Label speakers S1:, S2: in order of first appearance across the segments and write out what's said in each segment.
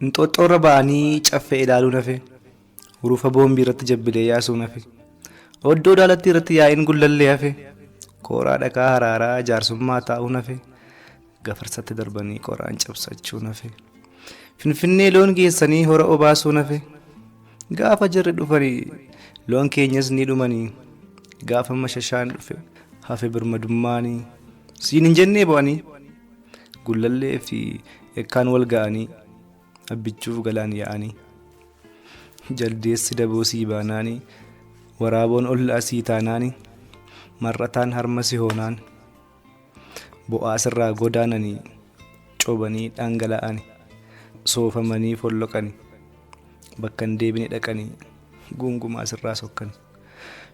S1: Inxooxxoo irra ba'anii caffee ilaaluu nafe hurufa boombii irratti jabbilee yaasuu nafe oddoo daalattii irratti yaa'iin gullallee hafe kooraa dhaqaa haraaraa jaarsummaa taa'uu nafe Gafarsatti darbanii qoraan cabsachuun hafe. Finfinnee loon geessanii hora obaasuun hafe. Gaafa jirri dhufanii loon keenyas ni dhumanii. Gaafa mashashaan dhufe hafe birmadummaanii. Siin hin jennee bo'anii. Gullallee fi ekkaan wal ga'anii. Abbichuuf galaan yaa'anii. Jaldeessi daboo sii baanaanii. Waraaboon ollaa sii taanaanii. Mar'ataan harma si hoonaan. Bo'aa sirraa godaananii cobanii dhangala'ani soofamanii folloqani bakka hin deebine dhaqanii gungumaa sirraa sokkani.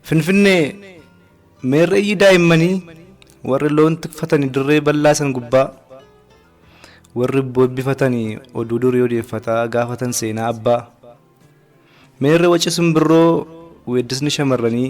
S1: Finfinnee meerreeyyii daa'immanii warri loon tikfatanii dirree bal'aa san gubbaa warri bobbifatanii oduu durii odeeffataa gaafatan seenaa abbaa meerre waci simbirroo weeddisni shamarranii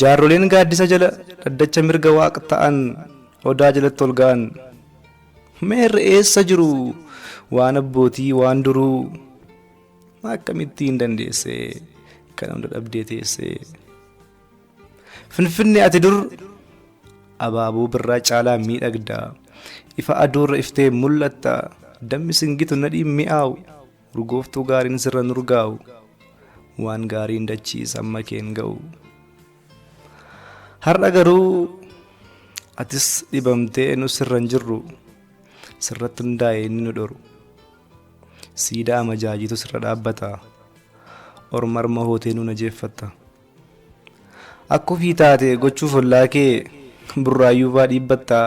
S1: Jaarroleen gaaddisa jala dhaddacha mirga waaq ta'an odaa jalatti ol ga'an. Meerre eessa jiru waan abbootii waan duruu akkamitti hin dandeesse kan hunda dhabdee teesse. Finfinne ati dur abaaboo birraa caalaa miidhagda ifa aduurra iftee mul'atta dammi singitu nadhiin mi'aawu. Urgooftuu gaariin sirra nurgaa'u waan gaariin dachiis amma keen ga'u. Har'a garuu atis dhibamtee nu sirra hin jirru sirratti hundaa'e inni nu dhoru. Siidaa amajaajiitu sirra dhaabbata ormarma hootee nu najeeffatta. Akka ofii taate gochuuf ollaa kee Burraayyuufaa dhiibbatta,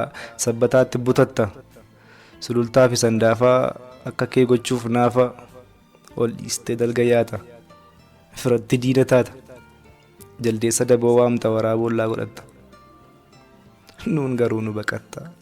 S1: Sabbataatti butatta, Sulultaafi Sandaafaa akka kee gochuuf naafa ol dhiistee dalga yaata, Firatti diina taata, Jaldeessa daboo waamta, Waraaboo ollaa godhatta, nuun garuu nu baqatta.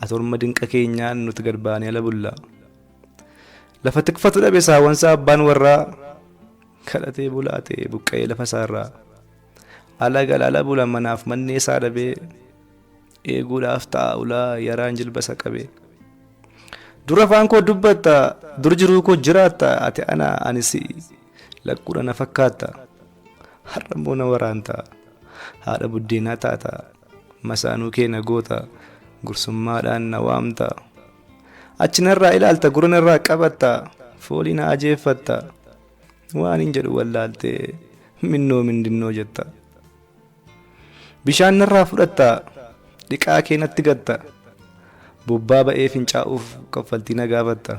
S1: Ati orma dinqa keenya nuti gad baanee ala bulla. Lafa tikfatu dhabe saawansaa abbaan warraa kadhatee bulaa ta'e buqqa'ee lafa isaarraa. Ala gala ala bula manaaf mannee isaa dhabee eeguudhaaf ta'a ulaa yaraan jilba isa qabe. Dur afaan koo dubbatta dur jiruu koo jiraatta ati ana ani si'i lakkuudha na fakkaatta. Har'a immoo na waraanta haadha buddeenaa taata. Masaanuu kee na goota, gursummaadhaan na waamta. Achi narraa ilaalta, gurra narraa qabatta, foolii na ajeeffatta. Waanin jedhu wallaaltee, minnoo mindinnoo jetta. Bishaan narraa fudhatta, dhiqaa kee natti gatta. Bobbaa ba'ee fincaa'uuf kaffaltii na gaafatta.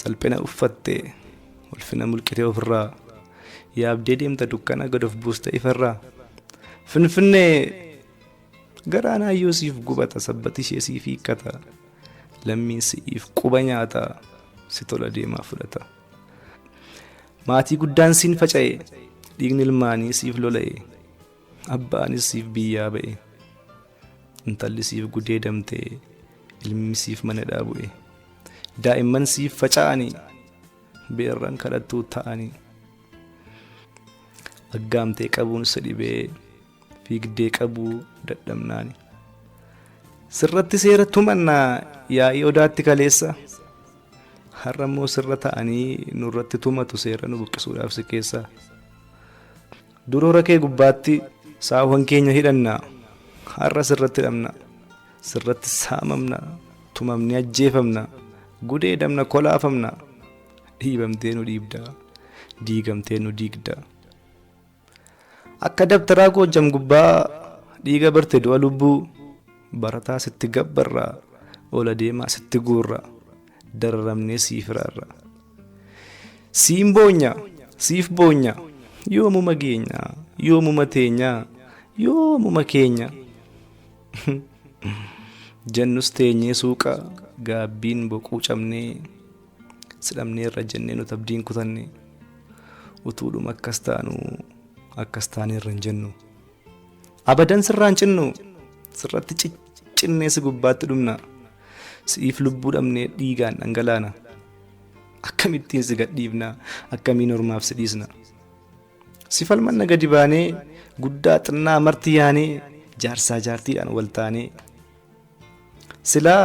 S1: Salphina uffattee ulfina mulqitee ofirraa yaabdee deemta dukkana gad of buusta ifarraa finfinnee garaan hayyuu siif gubata sabbati ishee siif hiikkata lammiin si'iif quba nyaata si tola deemaa fudhata maatii guddaan siin faca'e dhiigni ilmaanii siif lola'e abbaanis siif biyyaa ba'e intalli siif gudeedamte ilmi siif mana dhaabu'e. Daa'imman siif faca'anii beerran kadhattuu ta'anii. Aggaamtee qabuun si dhibee fiigdee qabuu dadhabnaani. Sirratti seera tumannaa yaa'ii odaatti kaleessa. Har'a immoo sirra ta'anii nurratti tumatu seera nu buqqisuudhaaf si keessaa. Duroora kee gubbaatti saawwan keenya hidhanna, har'a sirratti hidhamna, sirratti saamamna, tumamnee ajjeefamna, gudeedamna, kolaafamna, dhiibamtee nu dhiibda, diigamtee nu diigda. Akka dabtaraa goojjam gubbaa dhiiga barte du'a lubbuu, barataa sitti gabbarra, ola deemaa sitti guurra, dararamnee sii firaarra. Siin boonya, siif boonya, yoomuma geenya, yoomuma teenya, yoomuma keenya. Jennus teenyee suuqa gaabbiin boquu cabnee si dhabneerra jennee nuti abdiin kutanne utuudhuma akkas taanu akkas taaneerra hin jennu. Abadan sirraa hin cinnu sirratti ciccinnee si gubbaatti dhumna si'iif lubbuu dhabnee dhiigaan dhangalaana akkamittiin si gadhiifna akkamiin ormaaf si dhiisna si falmanna gadi baanee guddaa xinnaa marti yaanee jaarsaa jaartiidhaan wal taanee silaa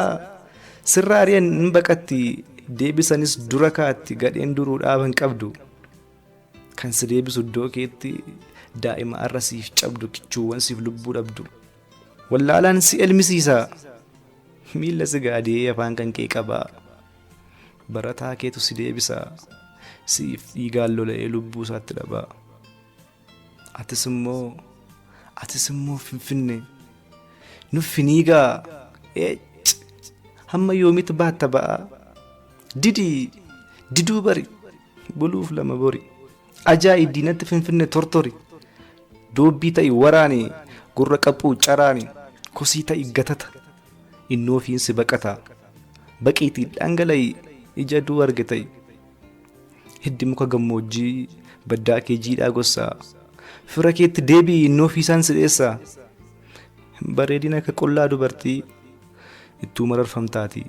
S1: sirra ari'an hin baqatti deebisanis dura kaatti gadheen duruu dhaaban qabdu. Kan si deebisu iddoo keetti daa'ima arra siif cabdu kichuuwwan siif lubbuu dhabdu. Wallaalaan si elmisiisa miilla si gaadee afaan kan kee qabaa. Barataa keetu si deebisa siif dhiigaan lola'ee lubbuu isaatti dhabaa. Atis immoo atis immoo finfinne nuffi ni gaa eec hamma yoomitti baatta ba'aa didii diduu bari Buluuf lama bori. Ajaa'i diinatti finfinne tortori. Doobbii ta'i waraani gurra qaphuu caraani kosii ta'i gatata. Inni ofiin si baqata. Baqiitii dhangala'i ija duu arge ta'i. Hiddi muka gammoojjii baddaa kee jiidhaa gossaa. Fira keetti deebi'i inni ofiisaan si dheessaa. Hin bareedin akka qullaa dubartii ittuu mararfamtaatii.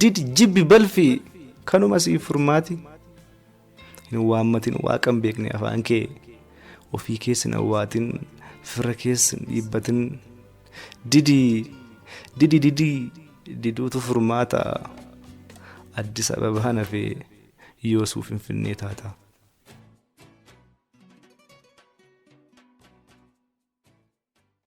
S1: did jibbi balfi kanuma siif furmaati hin waammatin waaqan beekne afaan kee ofii keessin awwaatin firra keessin dhiibbatin didi didi didi diduutu furmaata addis ababaa nafee yoosuu finfinnee taata.